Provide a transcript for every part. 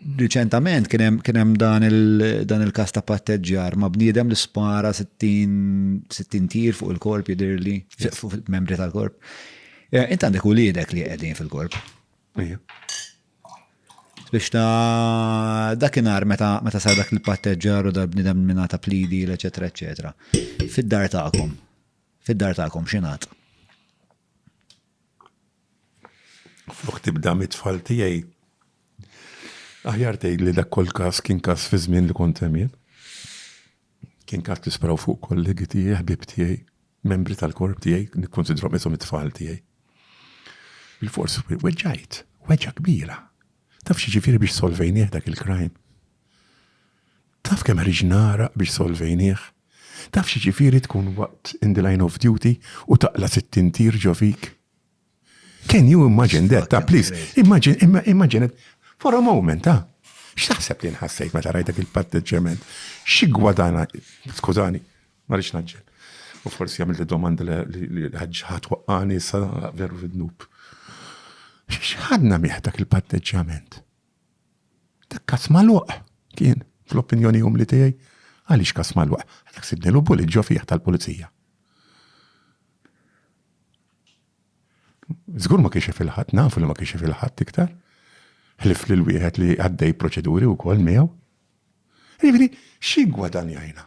Riċentament kien hemm kien hemm dan il- dan il-każ ta' patteġġjar ma' bniedem li spara 60 60 tir fuq il-korp jidhirli, fi- fuq il-membri tal-korp. Eh, Int għandek uliedek li qegħdin fil-korp. Ejja. Biex ta' dakinhar meta meta sar dak il-patteġġjar u dal-bniedem minn ta' plidi, eċetera, eċetera. Fid-dar tagħkom. Fid-dar tagħkom x'ingħad? Flok tibda mit-tfal tiegħi, aħjar tgħid li dak kol każ kien każ fi żmien li kont hemm jien. Kien każ li spraw fuq kollegi tiegħi, ħbieb tiegħi, membri tal-korp tiegħi, nikkonsidrom isom it-tfal tiegħi. Il-fors weġġajt, weġġa kbira. Taf xi ġifieri biex solvejnieh dak il-krajm? Taf kemm ħriġ nara biex solvejnieh? Taf xi ġifieri tkun waqt in the line of duty u taqla sittin tir ġo fik? Can you imagine that, ta' please, imagine, imma- imagine it for a moment, ta'. X'taħseb li nħassejt meta rajt dak il-patteġġjament? Xi gwadana, skużani, ma rridx naġġel. U forsi għamilt domanda li li ħaġ ħadd waqqani sa veru fid-dnub. X'ħadna miegħ dak il-patteġġjament? Dak kas magħluq kien, fl-opinjoni umli tiegħi. Għaliex kas magħluq? Għalhekk sibnilu bullet ġo fih tal-pulizija. Żgur ma kienx jaf il-ħadd, nafu li ma kienx jaf il-ħadd iktar. Ħlif lil wieħed li għaddej proċeduri wkoll miegħu. Jiġifieri, x'igwadanjajna?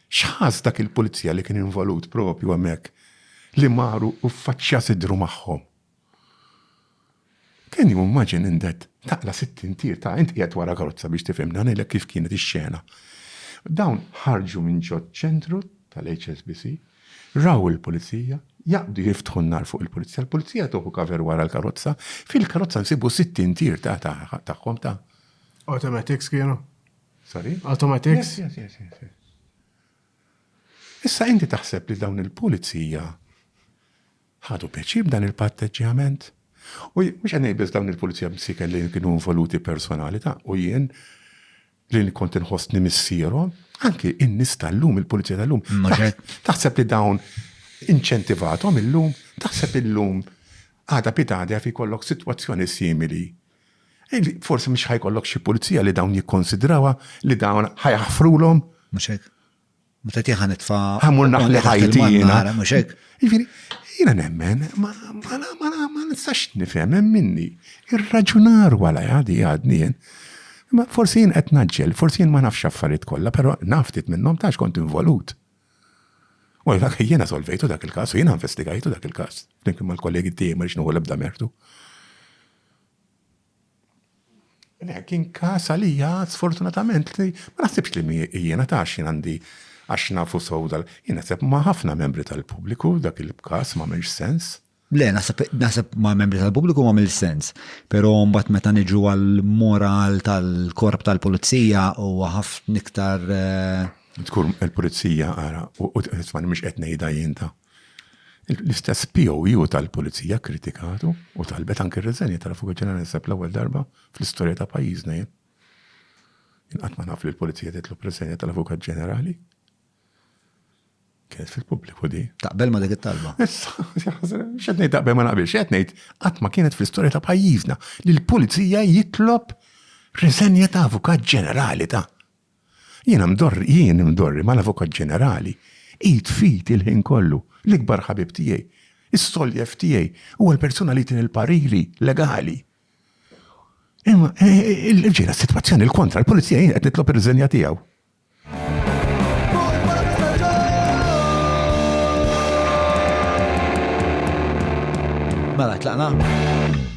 X'ħass dak il-pulizija li kien involut propju hemmhekk li mar u ffaċċja sidru magħhom? Can you imagine in that? Taqla' sittin tir, ta' int qiegħed wara karozza biex tifhem dan, għidlek kif kienet ix-xena. Dawn ħarġu minn ġoċ-ċentru tal-HSBC, raw il-Pulizija, jaqbdu jiftħu n-nar fuq il-Pulizija, l-Pulizija tieħu cover wara l-karozza, fil-karozza nsibu sittin tir ta' tagħhom ta'. Automatics kienu? Sorry? Automatics? Yes, yes, yes, yes. Issa inti taħseb li dawn il-Pulizija Ħadu pjaċir b'dan il-patteġġjament. U mhux qed ngħid biss dawn il-pulizija msieken li kienu involuti personalita' u jien li kont inħossni missierhom, anki in-nies tal-lum, il-pulizija tal-lum. Taħseb li dawn inċentivathom illum? Taħseb illum għada pitgħada jaf jkollok sitwazzjoni simili? Forsi mhux ħajkollok xi pulizija li dawn jikkonsidrawha li dawn ħajaħfrulhom? Mhux hekk. Meta tiħa nitfa. Ħamur naħli ħajti jiena. Mhux hekk. Jiġifieri, jiena nemmen, ma nistax nifhem hemm minni. Ir-raġunar wara għadi għadni jien. Ma forsi jien qed naġġel, forsi jien ma nafx affarijiet kollha, però naftit minnhom tax kont involut. U dak jiena solvejtu dak il-każ u jiena investigajtu dak il-każ. Flimkien mal-kollegi tiegħi ma rix nuħu l-ebda mertu. Le, kien każ għalija sfortunatament li ma naħsibx li mi jiena ta' għax jien għandi għax nafu sew dal. Jien naħseb ma' ħafna membri tal-pubbliku dak il-każ ma għamilx sens. Le, naħseb ma' membri tal-pubbliku ma' mill sens, pero mbagħad meta niġu għal-moral tal-korp tal-pulizija u għaf niktar. Eh, Tkur il-pulizija għara, u t-tfani mux etnejda jinta. L-istess POU tal-Pulizija kkritikatu u talbet anke r-riżenja tal-Avukat Ġenerali naħseb l-ewwel darba fl-istorja ta' pajjiżna jien. Jien qatt ma naf li l-Pulizija titlob riżenja tal-Avukat Ġenerali. Kienet fil-pubbliku di. Taqbel ma dik it-talba. Issa, xed ngħid taqbel ma naqbilx, qed ngħid qatt ma kienet fl-istorja ta' pajjiżna li l-Pulizija jitlob riżenja ta' Avukat Ġenerali ta' Jiena mdorri, jien imdorri mal-Avukat Ġenerali, id f'id il-ħin kollu, l-ikbar ħabib tiegħi, is-soljef tiegħi, huwa l-persuna li jtini l-pariri legali. Imma ġejna s-sitwazzjoni l-kontra, l-Pulizija jien qed nitlob ir-riżenja tiegħu. Mela tlaqna.